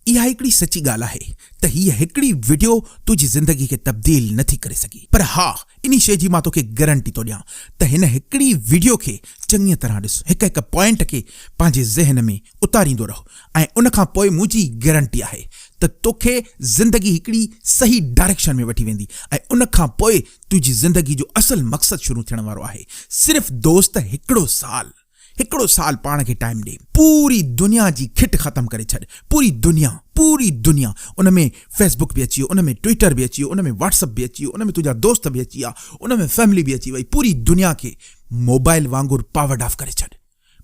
اها هڪڙي سچي ڳالهه آهي ته هيء هڪڙي وڊيو تنهنجي زندگي کي تبديل نٿي ڪري سگهي پر ها انهي شيء جي مان توکي گرنٽي ٿو ڏيان ته هن هڪڙي وڊيو کي چڱيء طرح ڏس هڪ هڪ پوائنٽ کي پنهنجي ذهن ۾ اتاريندو رهه ۽ ان کان پوء منهنجي گرنٽي آهي ته توکي زندگي هڪڙي صحيح ڊائريڪشن ۾ وٺي ويندي ۽ ان کان پوء تنهنجي زندگي جو اصل مقصد شروع ٿيڻ وارو آهي صرف دوست هڪڙو سال هڪڙو سال پاڻ کي ٽائيم ڏي. پوري دنيا جي کٽ ختم ڪري ڇڏ. پوري دنيا. پوري دنيا. ان ۾ فيسبوڪ به اچي ويو. ان ۾ ٽوئيٽر به اچي ويو. ان ۾ واٽس اپ به اچي ويو. ان ۾ تنهنجا دوست به اچي ويا. ان ۾ فيملي به اچي وئي. پوري دنيا کي موبائيل وانگر پاورڊ آف ڪري ڇڏ.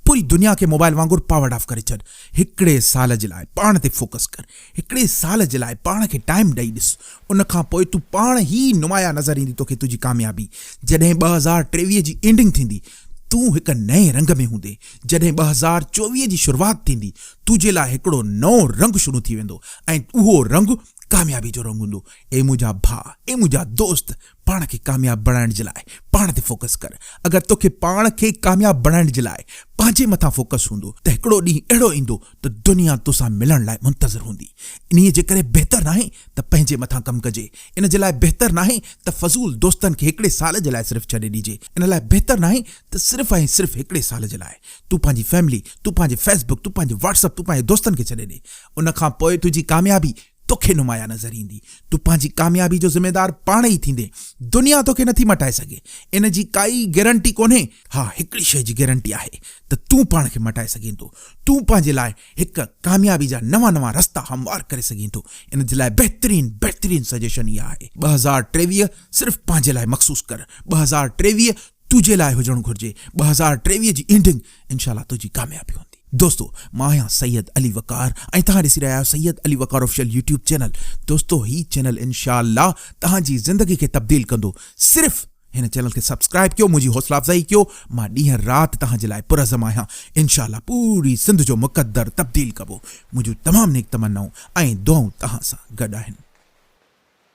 پوري دنيا کي موبائيل وانگر پاورڊ آف ڪري ڇڏ. هڪڙي سال جي لاء پاڻ تي فوڪس ڪر. هڪڙي سال جي لاء پاڻ کي ٽائيم ڏئي ڏس. ان کان پوء تون پاڻ ئي نمايان نظر ايندي توکي تنهنجي ڪاميابي. جڏهن ٻه هزار ٽيويهه جي اينڊنگ ٿيندي. تون هڪ نئين رنگ ۾ هوندين، جڏهن ٻه هزار چوويهه جي شروعات ٿيندي، تنهنجي لاء هڪڙو نئون رنگ شروع ٿي ويندو ۽ اهو رنگ ڪاميابي جو رنگ هوندو. اي منهنجا ڀاء، اي منهنجا دوست، پاڻ کي ڪامياب بڻائڻ جي لاء پاڻ تي فوڪس ڪر. اگر توکي پاڻ کي ڪامياب بڻائڻ جي لاء پنهنجي مٿان فوڪس هوندو ته هڪڙو ڏينهن اهڙو ايندو ته دنيا تو سان ملڻ لاء منتظر هوندي، انهيء جي ڪري بهتر ناهي ته پنهنجي مٿان ڪم ڪجي، ان جي لاء بهتر ناهي ته فضول دوستن کي هڪڙي سال جي لاء صرف ڇڏي ڏجي، ان لاء بهتر ناهي ته صرف ۽ صرف هڪڙي سال جي لاء تون پنهنجي فيملي، تون پنهنجي فيس بڪ، تون پنهنجي واٽس اپ، تون پنهنجي دوستن کي ڇڏي ڏي، ان کان پوء تنهنجي ڪاميابي، توکي نمايان نظر ايندي. تون پنهنجي ڪاميابي جو ذميدار پاڻ ئي ٿيندين. دنيا توکي نٿي مٽائي سگهي. ان جي ڪائي ئي گيرنٽي ڪونهي. ها هڪڙي شيء جي گيرنٽي آهي ته تون پاڻ کي مٽائي سگهين ٿو. تون پنهنجي لاء هڪ ڪاميابي جا نوان نوان رستا هموار ڪري سگهين ٿو. ان جي لاء بهترين بهترين سجيشن اها آهي. ٻه هزار ٽيويهه صرف پنهنجي لاء مخصوص ڪر. ٻه هزار ٽيويهه تنهنجي لاء هجڻ گهرجي. ٻه هزار ٽيويهه جي اينڊنگ انشاء الله تنهنجي ڪاميابي هوندي. دوستو مان آهيان سيد علي وقار ۽ توهان ڏسي رهيا آهيو Syed Ali Waqar official YouTube channel دوستو هي چينل انشاء الله توهان جي زندگي کي تبديل ڪندو صرف هن چينل کي سبسڪرائيب ڪيو منهنجي حوصلا افزائي ڪيو مان ڏينهن رات توهان جي لاء پرعزم آهيان انشاء الله پوري سنڌ جو مقدر تبديل ڪبو منهنجون تمام نيڪ تمنائون ۽ دعائون توهان سان گڏ آهن.